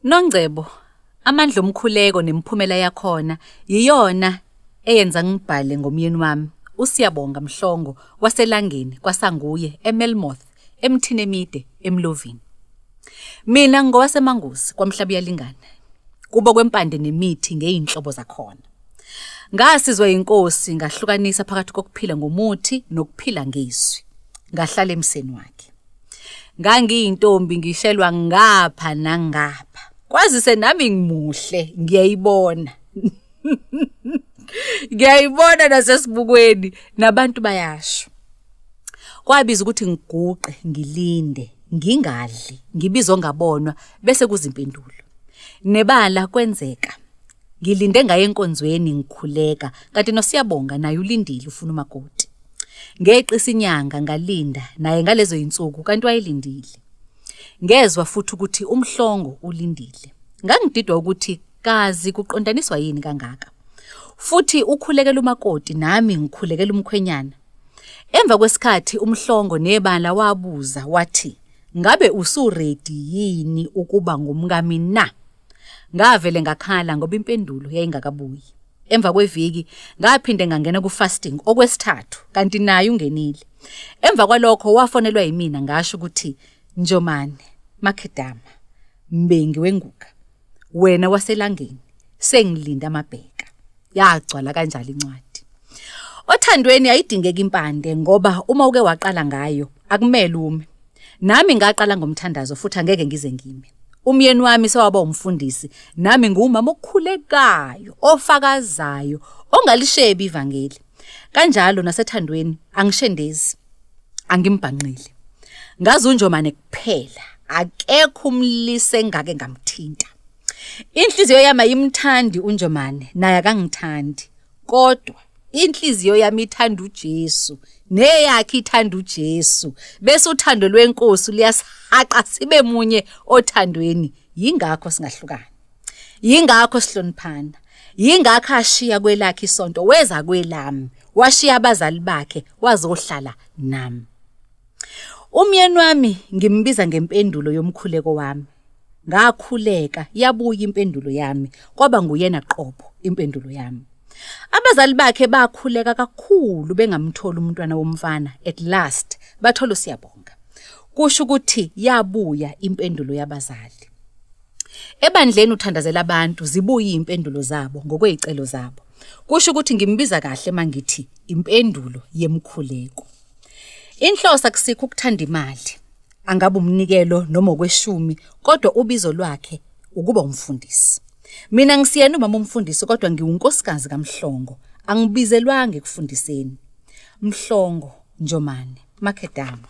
Nongcebo, amandla omkhuleko nemiphumela yakhona yiyona eyenza ngibhale ngomyeni wami uSiyabonga Mhlongo waseLangeni kwaSanguye eMelmoth emthini emide eMlovini. Mina ngowaseManguzi kwaMhlaba uyalingana. Kubo kwempande nemithi ngeyinhlobo zakhona. Ngasizwa inkosi ngahlukanisa phakathi kokuphila ngomuthi nokuphila ngezwi. Ngahlala emseni wakhe. ngangiyintombi ngishelwa ngapha nangapha kwazise nami ngimuhle ngiyayibona ngiyayibona nasesibukweni nabantu bayasho kwabiza ukuthi ngiguqe ngilinde ngingadli ngibizo ngabonwa bese kuzimpendulo nebala kwenzeka Ngilinde ngaye enkonzweni ngikhuleka kanti noSiyabonga naye ulindile ufuna umakoti. Ngeqisa inyanga ngalinda naye ngalezo insuku kanti wayelindile. Ngezwa futhi ukuthi umhlongo ulindile. Ngangididwa ukuthi kazi kuqondaniswa yini kangaka. Futhi ukhulekela umakoti nami ngikhulekela umkhwenyana. Emva kwesikhathi umhlongo nebala wabuza wathi ngabe usuready yini ukuba ngumkami na? Ngavele ngakhala ngoba impendulo yayingakabuyi. Emva kweviki ngaphinde ngangena ku-fasting okwesithathu kanti naye ungenile. Emva kwalokho wafonelwa yimina ngasho ukuthi Njomane Makhedama Mbengi wenguka wena waselangeni sengilinda amabheka. yagcwala kanjalo incwadi othandweni ayidingeki impande ngoba uma uke waqala ngayo akumele ume nami ngaqala ngomthandazo futhi angeke ngize ngime umyeni wami sewaba umfundisi nami ngumama okhulekayo ofakazayo ongalishebi ivangeli kanjalo nasethandweni angishendezi angimbhanqile ngazunjomane kuphela akekho umlise engake ngamthinta Inhliziyo yami ayimthandi uNjomane naye akangithandi kodwa inhliziyo yami ithanda uJesu neyakhe ithanda uJesu bese uthando lwenkosi liyasihaqa sibe munye othandweni yingakho singahlukana yingakho sihloniphana yingakho ashiya kwelakhe isonto weza kwelami washiya abazali bakhe wazohlala nami umyeni wami ngimbiza ngempendulo yomkhuleko wami ngakhuleka yabuya impendulo yami kwaba nguyena qobo impendulo yami abazali bakhe bakhuleka kakhulu bengamthola umntwana womfana at last bathola usiyabonga kusho ukuthi yabuya impendulo yabazali ebandleni uthandazela abantu zibuye impendulo zabo ngokwezicelo zabo kusho ukuthi ngimbiza kahle mangithi impendulo yemkhuleko Inhlosa kusikho ukuthanda imali. Angabe umnikelo noma okweshumi kodwa ubizo lwakhe ukuba umfundisi. Mina ngisiyena umama umfundisi kodwa ngiwunkosikazi kaMhlongo. Angibizelwanga ekufundiseni. Mhlongo Njomane Makedama.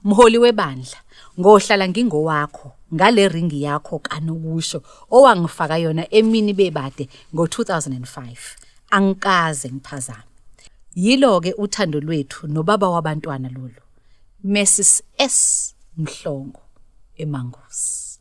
Mholi webandla, ngohlala ngingowakho ngale ringi yakho kanokusho owangifaka yona emini bebade ngo-2005. angikaze ngiphazame yilo ke uthando lwethu nobaba wabantwana lolu Mrs S Mhlongo eMangosi